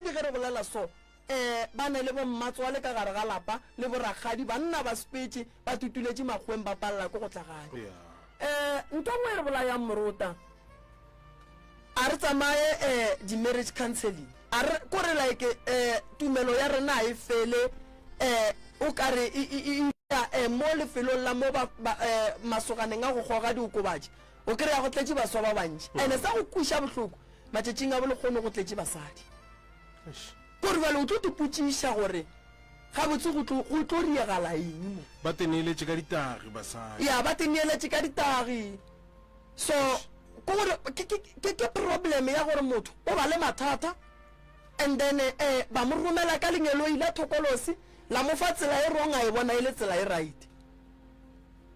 Ke ge re bolela so, ee, ba ne le bommatswale ka gare ga lapa le borakgadi, banna ba spetše, ba tutuletše makgweng ba palela ko go tla gae. Ee, ntho e nngwe e re bolayang morota, a re tsamaye ee, di-marriage counselling, a re, ko re like ee, tumelo ya rena ga e fele ee, o ka re e, e, e, e, ee, mo lefelong la mo ba, ba, ee, masoganeng a go goga diokobatši, O kry-a go tletše baswa ba bantši mm. ene sa go kweša bohloko matšatšing a bolekgono go tletše basadi kore bale o tlo tepotšiša gore gabotse go tlo riegala eng mo ba teneeletše ka ditagi basadi ya ba teneeletše ka ditagi so ke gore ke problem ya gore motho o ba le mathata and then um ba mo romela ka lengeloi la thokolosi la mo fa tsela e wrong a e bona e le tsela e right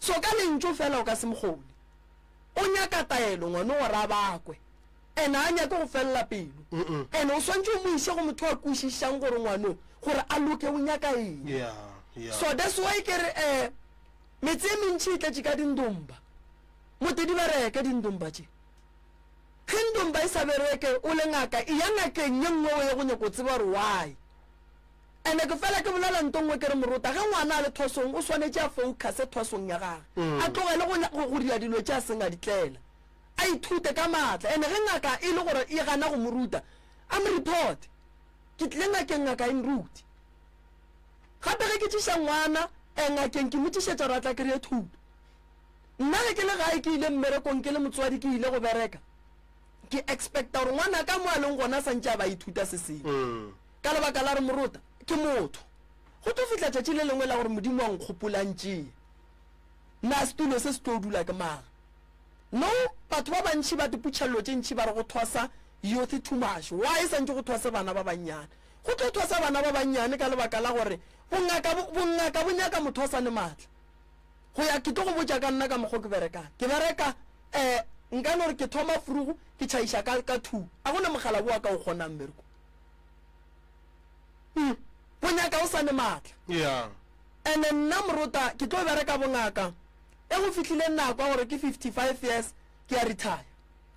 So ka lentšu fela o ka se mokgone. O nyaka taelo ngwano gore a bakwe. And a nyake go felela pelo. And o swantše o mo iše go motho a kwešišang gore ngwano gore a loke o nyaka eng. Yeah, yeah. So that's why ke re eh metse e mentši e tletše ka dindomba. Mote di bereke dindomba tše. Ge ndomba e sa bereke o le ngaka e ya ngakeng ye nngwe o ye go nyako tseba gore why. Ene ke fela ke bolela nto nngwe ke re morota ge ngwana a le thwasong o swanetše a focuse thwasong ya gage, a tlogele go, go, go dira dilo tše a seng a di tlela. A ithute ka maatla. Ene ge ngaka e le gore e gana go mo ruta, a mo reporte. Ke tlile ngakeng ngaka e nrute. Gape ge ke tšiša ngwana eh, ngakeng ke mo tšišetša gore a tla kry-e thuto. Nna ge ke le gae ke ile mmerekong ke le motswadi ke ile go bereka, ke expecta gore ngwanaka mo a leng gona a sa ntše a ba a ithuta se sengwe. Ka lebaka la gore morota ke motho, go tlo fihla tšatši le lengwe la gore Modimo a nkgopolantšee. Na setulo se se tlo dula ke mang? No, batho ba bantši ba diputšha llo tše ntši ba re go thwasa youth too much. Why e santše go thwase bana ba bannyane? Go tlo thwasa bana ba bannyane ka lebaka la gore bongaka, bongaka bo nyaka motho a sa ne matla. Go ya, ke tlo go botša ka nna ka mokgwa ke berekang. Ke bereka, eh, nka no re ke thoma frugu, ke tšhaiša ka, ka two. A go na mogala bowa ka o kgonang mmereko. Hmm. Go nyaka o sane matla. Yeah. Ene nna morota ke tlo bereka bongaka e go fihlile nako ya gore ke 55 years ke ya retire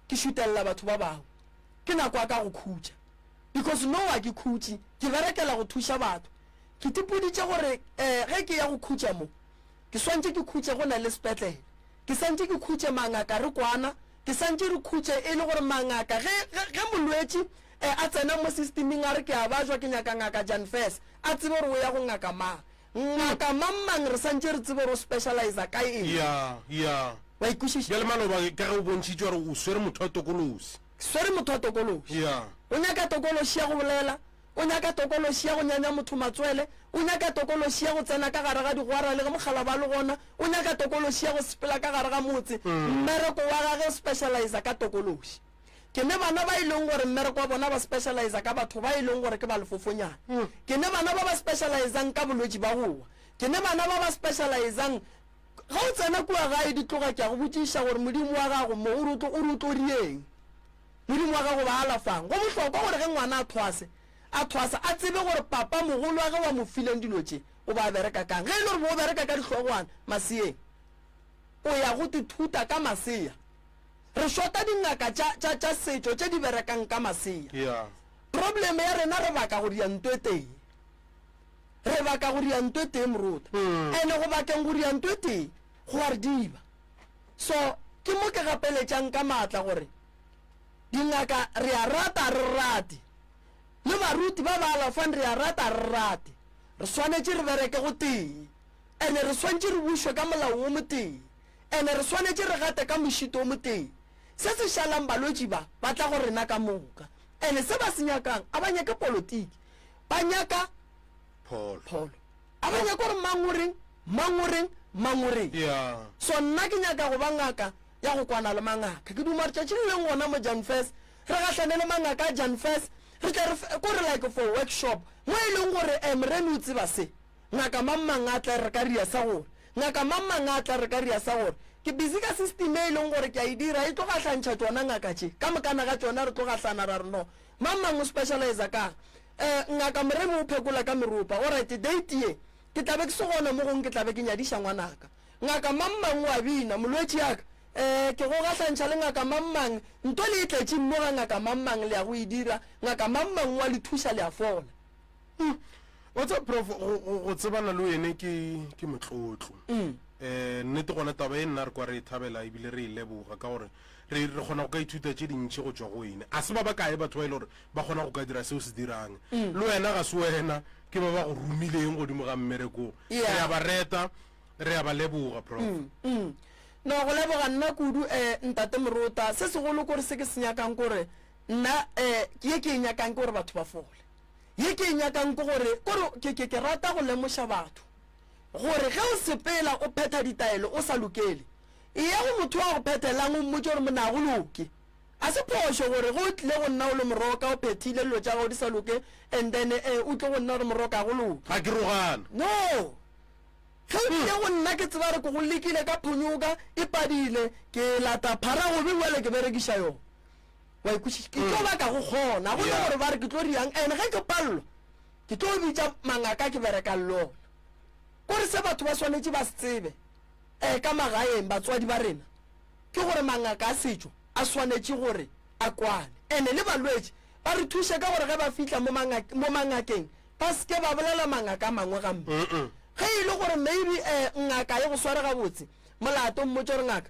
ke šutelela batho ba bangwe ke nako ya ka go khutša because no wa ke khutše ke berekela go thuša batho ke tipoditše gore um ge ke ya go khutša mo ke swantše ke khutše go na le sepetlele ke santše ke khutše mangaka re kwana ke santše re khutše e le gore mangaka ge molwetši E, a tsena mo sistiming a re ke a bajwa ke nyaka Ngaka Jan Fess. A tsebe gore o ya go ngaka mang. Ngaka mang-mang re sa ntše re tsebe gore o specializa ka eng. Ya, ya. Wa ikwešiša? Bjale maloba ka ge o bontšhitše gore o swere motho wa tokološi. Ke swere motho wa tokološi. Ya. O nyaka tokološi ya go bolela, o nyaka tokološi ya go nyanya motho matswele, o nyaka tokološi ya go tsena ka gare ga digwara le ge mokgalaba a le gona, o nyaka tokološi ya go sepela ka gare ga motse. Mmereko wa gage o specializa ka tokološi. Ke ne bana ba e leng gore mmereko wa bona ba specializa ka batho ba e leng gore ke ba lefofonyana. Mm. Ke ne bana ba ba specializang ka bolwetši ba go wa. Ke ne bana ba ba specializang ga o tsena kua gae di tloga ke a go botšiša gore modimo wa gago mo o rotlo o rotlo rieng modimo wa gago ba alafang go bohlokwa gore ge ngwana a thwase a thwasa a tsebe gore papa mogolo wa ge wa mo fileng dilo tše o ba bereka kang ge e le gore bo o bereka ka dihlogwana maseyeng o ya go tithuta ka maseya Re shota dingaka tša, tša, tša setšo tše di berekang ka masea. Yeah. Problem ya rena re baka go dianto e tee. Re baka go dianto e tee moruta. Mm. Ene go bakeng go dianto e tee go a re diba. So ke mo ke gapeletšang ka maatla gore dingaka re a rata a re rate le baruti ba ba alafang re a rata a re rate re swanetše re bereke go tee. Ene re swantše re bušwe ka molao wo motee. Ene re swanetše re gate ka mošito wo motee. Se se šalang balwetši ba, ba tla go rena ka moka. Ene se ba se nyakang, a ba nyake politiki. Ba nyaka Pholo. pholo. A ba nyake gore mang o reng, mang o reng, mang o reng. Ya. So nna ke nyaka go ba ngaka ya go kwana le mangaka. Ke duma gore tšatši le leng gona mo Janfes, re gahlane le mangaka a Janfes, re tle re fe, ko re like for workshop, mo e leng gore, eh, Morena o tseba se. Ngaka mang mang a tla re ka ria sa gore, Ngaka mang mang a tla re ka ria sa gore, Ke busy ka system e e leng gore ke a e dira, e tlo gahlantšha tšona ngaka tše, ka mokana ga tšona re tlo gahlana ra re no. Mang mang o specializer ka'ng? Eh, Ngaka Moremi o phekola ka meropa. Alright, date ye, ke tla be ke se gona mo gongwe ke tla be ke nyadiša ngwanaka. Ngaka mang mang o a bina, Molwetši ya ka, eh, ke go gahlantšha le Ngaka mang mang, nto le e tletše mmo ga Ngaka mang mang, le ya go e dira, Ngaka mang mang o a le thuša, le a fola. Mm. wa tseba prof go- go go tsebana le wene ke ke motlotlo um nnete gona taba e nna re kwa re e thabela ebile re e leboga ka gore re re kgona go ka ithuta tše dintšhi go tswa go wene a se ba ba kae batho ba e le gore ba kgona go ka dira seo se dirang le wena ga se wena ke ba ba go romileng godimo ga mmerekong Yeah. re a ba reta re a ba leboga prof Mm. no go leboga nna kudu um ntate morota se segolo kore se ke se nyakang kore nna um ke ye ke e nyakang ke gore batho ba fole Ye ke e nyakang ke gore, ke gore ke, ke, ke rata go lemoša batho gore ge o sepela o phetha ditaelo o sa lokele, eya go motho wa go phethelang o mmotše gore monna ga go loke. A se phošo gore ge o tlile go nna o le moroka o phethile dilo tša gago di sa loke and then eh, o tle go nna gore moroka ga go loke. Ga ke rogana. No! Ge o tlile go nna ke tseba gore ke go lekile ka phonyoka e padile, ke lata phara gobe bjale ke berekiša yona. wa ikwešiša ke tlo baka go kgona go gore ba re ke tlo riang and ge ke palelwa ke tlo bitša mangaka ke berekang le ona kore se batho ba swanetše ba se tsebe um ka magaeng batswadi ba rena ke gore mangaka a setšo a swanetše gore a kwane and-e le balwetši ba re thuše ka gore ge ba fitlha mo mangakeng ba seke ba bolela mangaka a mangwe gampe ge e le gore maybe um ngaka e go sware gabotse molato mmotse gore ngaka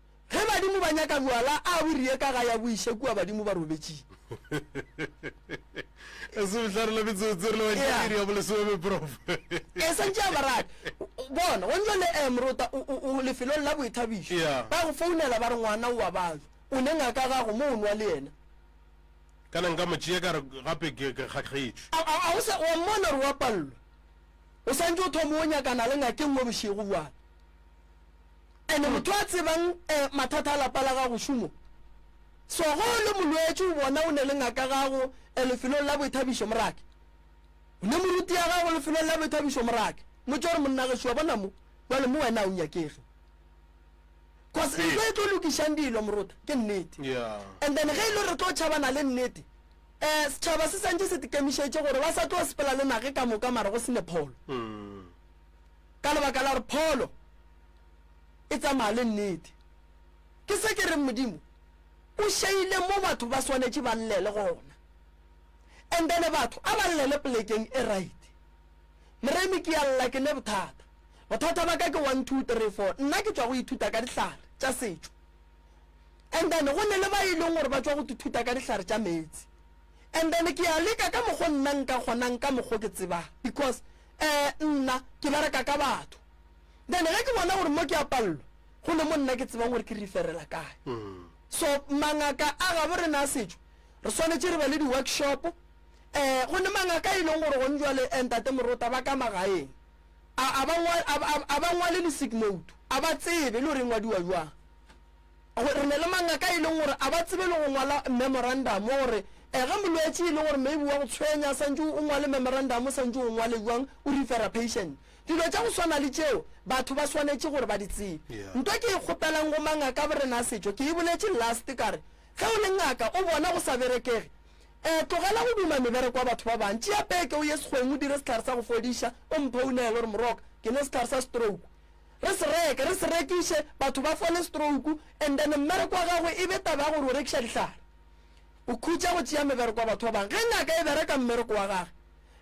Ge badimo ba nyaka bjwala, a bo riye ka ga ya bo iše kua badimo ba robetšing. E se bohlare la metsotso re le batšea Yeah. iri ya bolesome prof. E santše a baradi. Bona, go ntšwa le eh, Morota, o- o o lefelong la boithabišo. Yeah. Ba go founela ba re ngwana o wa batho. O ne ngaka gago mo o nwa le yena. Kana nka mo tšea ka re gape ke ke kgakgetšwe. A- a- a o sa- wa mmona gore wa pallwa. O santše o thoma o nyakana le ngakeng mo bošego bjale. Ene motho a tsebang eh, mathata a lapa la gago šumo. So go le molwetši o bona o ne le ngaka gago eh, lefelong la boithabišo morake. O ne moruti ya gago lefelong la boithabišo morake. Motse gore monna ge šua bona mo, jwale mo wena o nyakege. Cause Ee. ntho e tlo lokišang dilo morota ke nnete. Yeah. And then ge e le re tlo tšhabana le nnete, eh setšhaba se santše se tikemišetše gore ba sa tlo sepela le nage ka moka mara go sene pholo. Mm. Ka lebaka la gore pholo e tsamaya le nnete. Ke se ke reng Modimo o šeile mo batho ba swanetše ba llele gona. And then batho a ba llele plekeng e right. Moremi ke a lla ke ne bothata. Bothata ba ka ke one two three four. Nna ke tšwa go ithuta ka dihlare tša setšo. And then go ne le ba e leng gore ba tšwa go ithuta ka dihlare tša meetse. And then ke a leka ka mokgo nna nka kgonang ka mokgo ke tsebang because eh nna ke bereka ka batho. then ge ke bona gore mo ke a pallo go ne mo nna ke tsebang gore ke referela kae mm. so mangaka a gabo rena a setšo re swanetše re ba le di-workshop um eh, go ne mangaka e leng gore gone jale eh, ntate morota ba ka magaeng a ba ngwale le sigmoto a ba tsebe le gore e ngwadiwa jwang re ne le mangaka e leng gore a ba tsebe le go ngwala memorandum gore um ge molwetse e leng gore maybe wa go tshwenya santse o ngwale memorandum o santse o ngwale jwang o refera patient Dilo tša go swana le tšeo batho ba swanetše gore ba di tsebe. Nto ke e kgopelang go mangaka borena a setšo, ke e boletše last ka re, Ge o le ngaka o bona go sa berekege, um tlogela go duma mebereko ya batho ba bang. Tšea peke o ye sekgweng o dire sehlare sa go fodiša, o mphounele gore, Moroka, ke nwe sehlare sa stroke. Re se reke, re se rekiše, batho ba fole stroke, and then mmereko wa gagwe e be taba ya gore o rekiša dihlare. O khutša go tšea mebereko ya batho ba bang. Ge ngaka e bereka mmereko wa gage,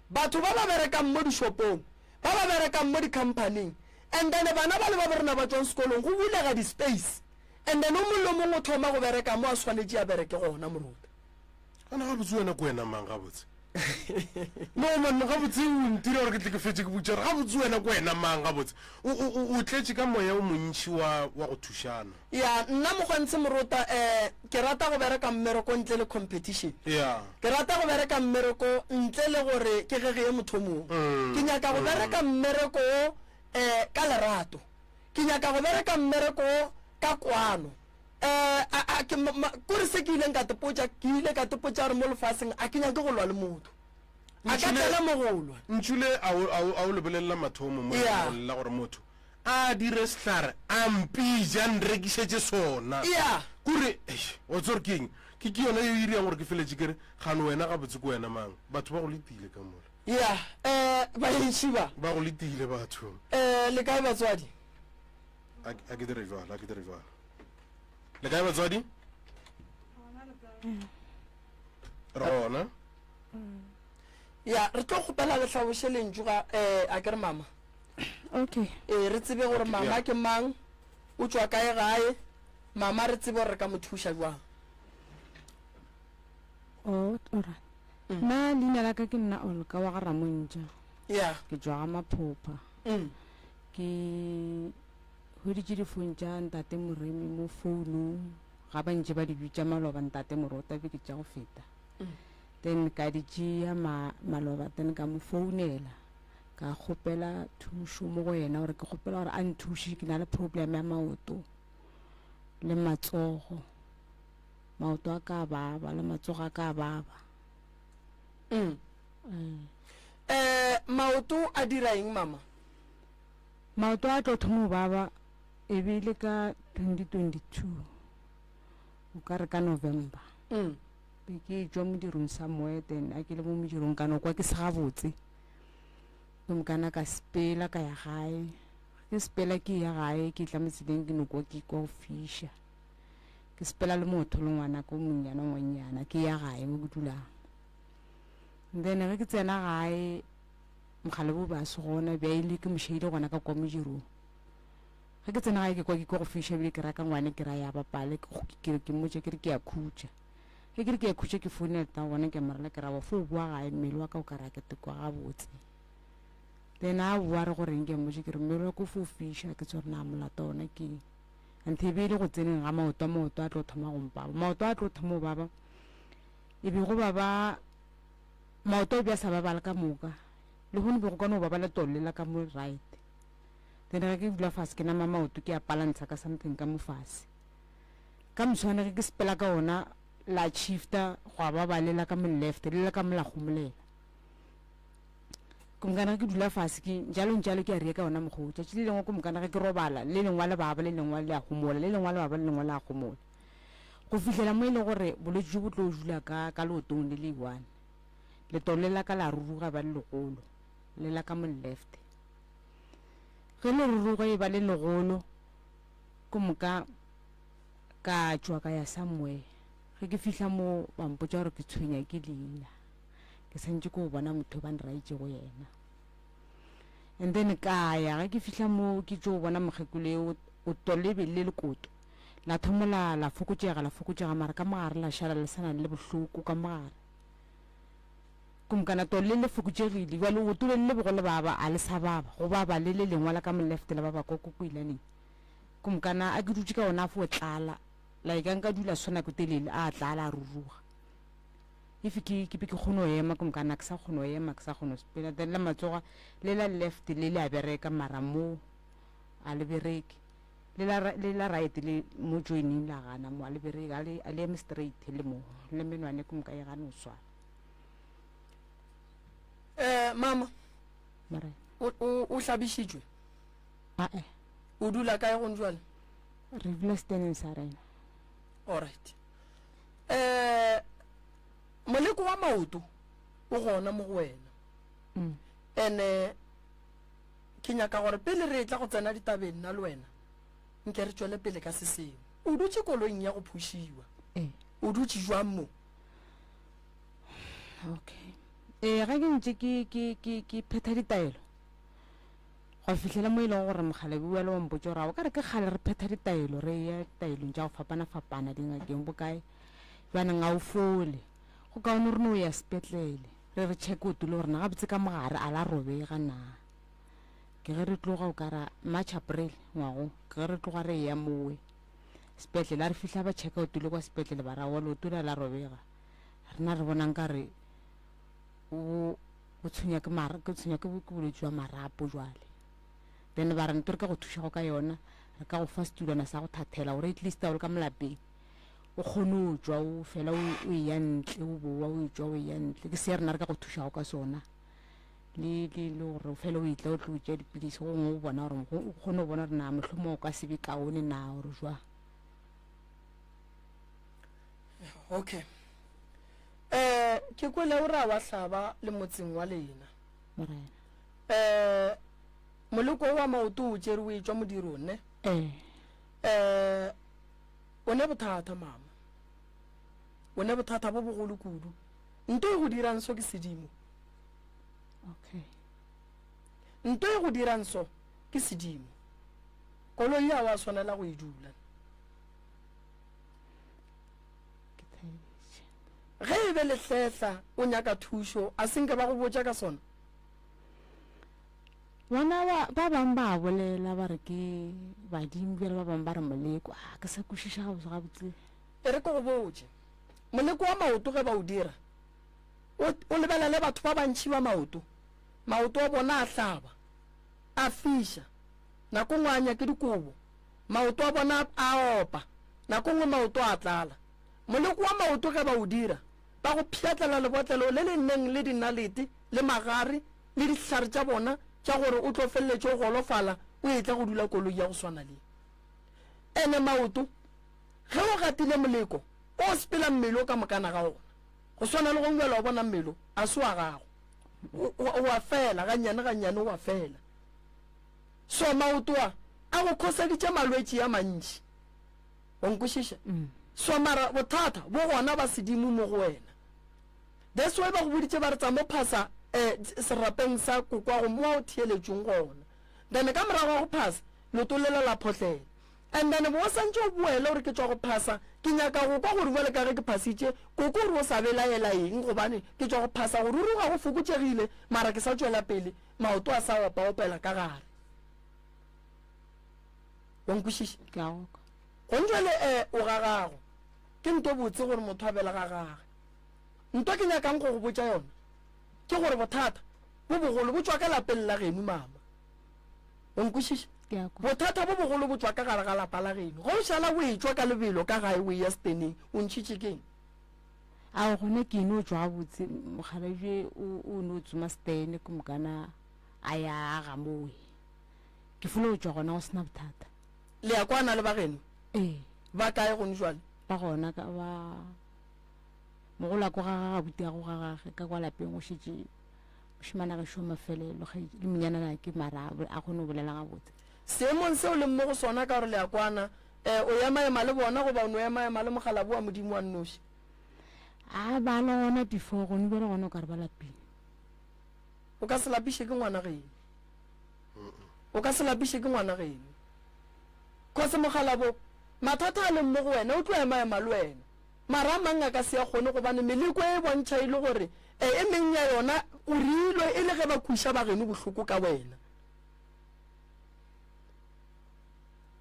Batho ba ba berekang mo dishopong, ba ba berekang mo dikhamphaning, and then bana ba le ba borena ba tšwang sekolong, go bulega di-space, and then o mongwe le o mongwe o thoma go bereka mo a swanetše a bereke gona, moruta. Gona gabotse wena ke wena mang gabotse? No man, gabotse o ntira gore ke tle ke fetše ke botša gore gabotse wena ke wena mang gabotse? O, o, o, o tletše ka moya o montši wa, wa go thušana. Ya, nna Mogwantshe Morota eh, ke rata go bereka mmereko ntle le competition. Ya. Ke rata go bereka mmereko ntle le gore ke ge ge ye motho o mongwe. Mm, Ke nyaka go mm. bereka mmereko wo eh, ka lerato. Ke nyaka go bereka mmereko wo ka kwano. Eh, a, a, ke, ma, ma, kore se ke ileng ka tepotša, ke ile ka tepotša gore mo lefaseng a ke nyake go lwa le motho. A ka Ntšhule- tsena mo go lwa. Ntšhule a o, a o, a o lebelela mathomo mo Ya. lengwalong la gore motho A dire sehlare a mpija a nrekišetše sona. Eya. Ke gore, eish, wa tseba gore ke eng? Ke, ke yona yeo e irago gore ke feletše ke re, Gane wena gabotse ke wena mang? Batho ba go letile ka mola. Eya. Eh, baentši ba. Ba go letile batho. Eh, le kae batswadi? A, a ke dire bjalo, a ke dire bjalo. Le kae batswadi? Re gona. Eya, re tlo kgopela le hlaboše lentšu ga, eh, a ke re mama? okay ee re tsebe gore Okay, mama yeah. ke mang o tšwa kae gae mama re tsebe gore re ka mo thuša jwang oh ora Mm. na leina la ka ke nna olka wa ga ramontša ya ke tswa ga maphopha mm. ke hweditše difone tša ntate moremi mo founung ga ba ntše ba di bitša maloba ntate morota be ke tša go feta Mm. then ka di tšea ma- maloba then ka mo founela ka kgopela thušo mo go yena gore ke kgopela gore a nthuše ke na le problem ya maoto le matsogo maoto a ka baba le matsogo a ka baba mm. Mm. Eh, maoto a dira eng mama maoto a tlo thomo baba e be le ka 2022 o ka re ka november mm. be ke jwa modirong sa moeten a ke le mo modirong kana kwa ke se gabotse Gomme ka na ka sepela ka ya gae. Ke sepela ke ya gae, ke tla mo tseleng ke no kwa ke kwa go fiša. Ke sepela le motho le ngwana ko monyana ngwanyana ke ya gae mo ke dulang. Then ge ke tsena gae mogale bo ba se gona bja ile ke mošeile gona ka kwa modirong. Ge ke tsena gae ke kwa ke kwa go fiša bile ke raka ngwane ke ra ya bapale ke ke ke mmotša ke re ke ya khutša. Ge ke re ke khutše ke founele ta gona ke morela ke rabo fo o boa gae mmele wa ka o ka ra ke tekwa gabotse le ena a boa re goreng ke mmotse ke re mmele wa ko fo fiša ke tsore na molato ona ke nthe e be e le go tseneng ga maoto a maoto a tlo thoma go mpaba maoto a tlo thoma go baba e be go baba maoto o bja sa babala ka moka le go ne be go kone go babala tolle la ka mo right then ge ke dula fase ke nama maoto ke a palantsha ka something ka mo fase ka moswane ge ke sepela ka ona la shifta gwa ba ba lela ka mo left le ka mo la gomolela ke mokana ke dula fase ke jalo jalo ke a re ka ona mogo tšatši le lengwe ke mokana ge ke robala le lengwa le baba le lengwa le a gomola le lengwa le baba le lengwa le a gomola go fihlela mo e leng gore bolwetse jo bo tlo dula ka ka leotong le le one letolo le la ka la ruruga ba le legolo le la ka mo left ge le ruruga e ba le legolo Go moka ka tšwa ka ya somewhere ge ke fihla mo ba mpotsa gore ke tshwenya ke leina ke santse ko bona motho ba nraitšego yena and then ka ya ge ke fihla mo ke tšo bona mokgekolo e o tolebe le lekoto la thomola la fokotšega la fokotšega mara ka mogare la šala le sa nang le bohloko ka mogare Kumkana to le le fokutšegile, bja leoto le le lebego le baba, a le sa baba, go baba le le lengwa la ka molefte la baba kwa kokoilaneng. Kumkana a ke dutše ka ona a fo tlala, like a nka dula so nako telele, a tlala a ruruga. If ke, ke be ke kgone go ema, Kumkana a ke sa kgone go ema, ke sa kgone go sepela, then la matsoga le la lefte le le a bereka, mara mo a le bereke. Le la, le la right le mo joining la gana mo a le bereke, a le, a le eme straight le mo, le menwane Kumka e gane go swara. um mama Morena. o, o, o hlabišitšwe Ae, o dula kae gong jale re dula seteneng sa rena. alright um moleko wa maoto o gona mo go wena Mm. ene ke nyaka gore pele re tla go tsena ditabeng nna le wena nke re tšwele pele ka se sengwe o dutše koloing ya go phušiwa Ee. o dutše jwang mo okay ee ga ke ntse ke ke ke ke phetha ditaelo go fitlhela mo e leng gore mogalabi wa le wampotse gore o ka re ke kgale re phetha ditaelo re ya ditaelong tša go fapana-fapana dingakeng bokae jaanong ga o fole go kaone re ne o ya sepetlele re re check o tule gorena gabotse ka mogare a la robega na ke ge re tloga o kara march april ngwago ke ge re tloga re ya mowe sepetlele a re fihla ba checka o tule kwa sepetlele ba ra wa leoto la la robega rena re bonang ka re o o tshwenya ke mara ke tshwenya ke ke bolwetse jwa marapo jwale then ba re nto re ka go thuša go ka yona re ka go fa setulwana sa go thathela gore at least a o le ka molapeng o kgone o jwa o fela o e ya ntle o bowa o e jwa o e ya ntle ke se rena re ka go thušago ka sona le le le gore o fele o etla o tlo o tšea dipilisi go ngwe o bona gore o kgone go bona gore na mohlomong o ka se be kaone na gore jwa okay eh ke kwele o ra wa hlaba le motseng wa lena morena eh moloko wa maoto o tšere o etšwa modiro ne eh eh o ne bothata mama o ne bothata bo bogolo kudu nto e go dirang so ke sedimo Okay. Nto e go dirang so ke sedimo. Koloi ya wa swanela go e dula. Ge e be lehletla o nyaka thušo a senke ba go botša ka sona. Bona ba ba bang ba bolela ba re ke badimo bjale ba bang ba re moleko a ah, ke sa kwešiša gabotse gabotse. E re ke go botše moleko wa maoto ge ba o dira O, o lebelele batho ba bantši ba maoto, maoto a bona a hlaba, a fiša, nako nngwe a anya ke dikobo, maoto a bona a opa, nako nngwe maoto a tlala. Moleko wa maoto ge ba o dira, ba go pšhatlela lebotlelo le le neng le dinalete le magare le dihlare tša bona tša gore o tlo feleletše o golofala o etla go dula koloi ya go swana le. Ene maoto, ge o gatile moleko, o sepela mmele o ka mokana ga ona. Go swana le gong bjalo, wa bona, mmelo a se wa gago. O, o a fela, gannyane gannyane o a fela. So maoto a, a go khoseditše malwetši a mantši. O nkwešiša? Mm. So mara bothata bo gona ba sedimo mo go wena. That's why ba go boditše ba re tsa mo phasa eh, serapeng sa kokwa go mo o theeletšong gona. Then ka morago ga go phasa, leoto lela la photlela. And then bo o santše o boele o re ke tšwa go phasa, ke nyaka go kwa gore bjale ka ge ke phasitše, koko o re o sa belaela eng gobane ke tšwa go phasa, go ruruga go fokotšegile mara ke sa tšwela pele, maoto a sa opa-opela ka gare. Wa nkwešiša? Ke a go kwa. Gong jwale e, o ga gago. Ke nto botse gore motho a bela ga gage. Nto ke nyakang go go botša yona ke gore bothata bo bogolo bo tšwa ka lapeng la genu, mama. o nkwešiša Ke a kwa. bothata bo bogolo bo tšwa ka gare ga lapa la geno ge o šala o etšwa ka lebelo ka gae o eya seteneng o ntšhitše keng Ao gona ke no tšwa gabotse m- mokgalabje o, o no tsoma setene ke mokana a ya aga mowe. Ke folo go tšwa gona go sena bothata. le ya kwana le ba geno Ee, ba kae gone jwale ba gona ka ba mogolako ga ga gabute ya go ga gage ka kwa lapeng go šetše Mošemane a gešo mafelelo ge le monyanana ke mara a kgone go bolela gabotse. Seemong se o leng mo go sona ka gore le a kwana, eh, o ema-ema le bona goba o no ema-ema le mokgalabo wa Modimo wa nnoši? A ba le gona before, gone bjale gona o ka re ba lapile. O ka se lapiše ke ngwana geno. O ka se lapiše ke ngwana geno. Kgose mokgalabo, mathata a leng mo go wena o tlo ema-ema le wena. Mara a mang a ka se a kgone gobane meleko e e bontšha e le gore e e meng ya yona o reilwe e le ge ba kweša bageno bohloko ka wena.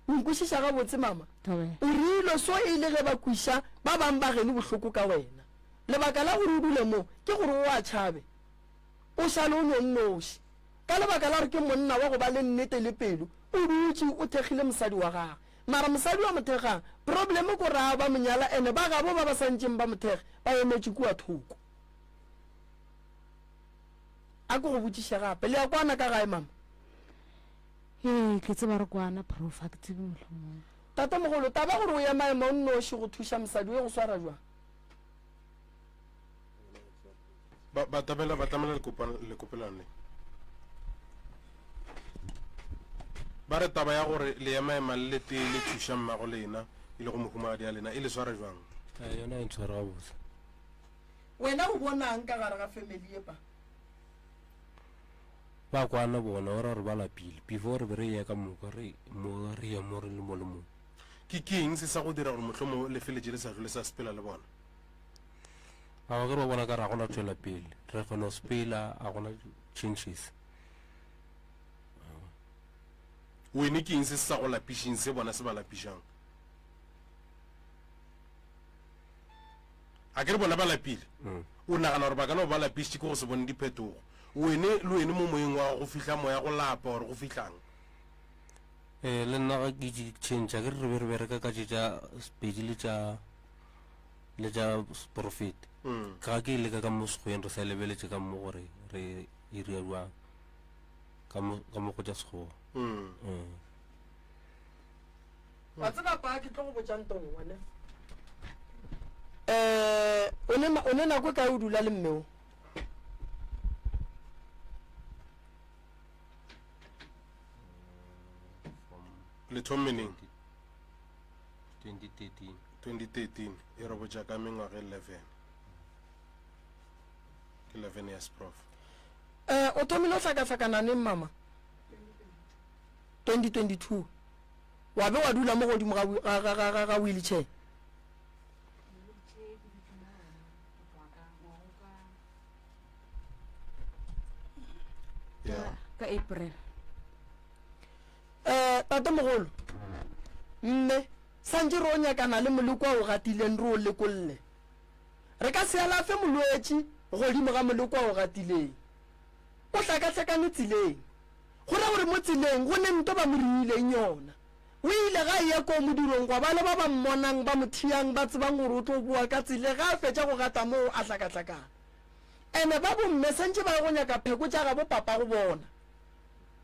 O nkwešiša gabotse, mama? O reilwe so e le ge ba kweša ba bang bageno bohloko ka wena. Lebaka la gore o dule mo ke gore o a tšhabe, o šale o no nnoši. Ka lebaka la gore ke monna wa go ba le nnete le pelo, o dutše o thekgile mosadi wa gagwe. Mara mosadi wa mothekga problem ko raa ba monyala ene ba gabo ba ba santšeng ba mothekge ba emetše kua thoko. A ko go botšiše gape le ya kwana ka gae mama? Ee ke tseba re kwana prof a ke tsebe mohlomong. Tatemogolo, taba gore o ya maemo o nnoši go thuša mosadi o ye go swara jwang? ba ba tabela ba tlamela lekopelano le ba re taba ya gore le ema ema le letee le thuša mmago lena e le go mohumagadi ya lena e le sware jwang eh, yona e ntshwara gabotse wena o bonang ka gare ga family epa ba kwana bona o ra gore ba lapile before re be re ye ka moka re mo re ye mo re le mo le mong ke keng se sa go dira gore motlhomo le feletse le sa jole sa sepela le bona Ao ge ba bona ka ra gona tšwela pele re go no spela a gona changes wene ke eng se se sa go lapišeng se bona se ba lapišang a ke re bona ba lapile mm. o nagana gore ba ka no ba lapišitše ke go se bone diphetogo wene le wene mo moyeng wa go fihla moya go lapa gore go fihlang um le nna ga ke change a ke re re be re bereka ka tše tša sepedi le tša le tša seporofeti ga ke ile ka ka mo sekgweng re sa lebeletše ka mo gore re e ria jwang ka mo ka mo go tša sekgowa Mm. wa tseba pa ke tlo go botšang tong one um o ne na- o ne nako e kae o dula le mmeo le thommeneng 2013 2013 e re botša ka mengwaga 11 ke 11 years prof Eh, o thomile o hlakahlakana neng mama? 2022. Wa be wa dula mo godimo ga, ga, ga, ga, ga, ga wheelchair? yeah. ka april Eh, tatemogolo, mme, santše re o nyakana le moleko a o gatileng re o lekolle. Re ka se alafe molwetši godimo ga moleko a o gatileng. O hlakahlakane tseleng. Go ra gore mo tseleng go ne nto ba mo riileng yona. O ile ga eya koo modirong gwa ba le ba ba mmonang ba mo thiyang ba tsebang gore o tlo boa ka tsele ga a fetša go gata moo a hlakahlakana. Ene ba bomme santše ba ye go nyaka pheko tša gabo papago bona.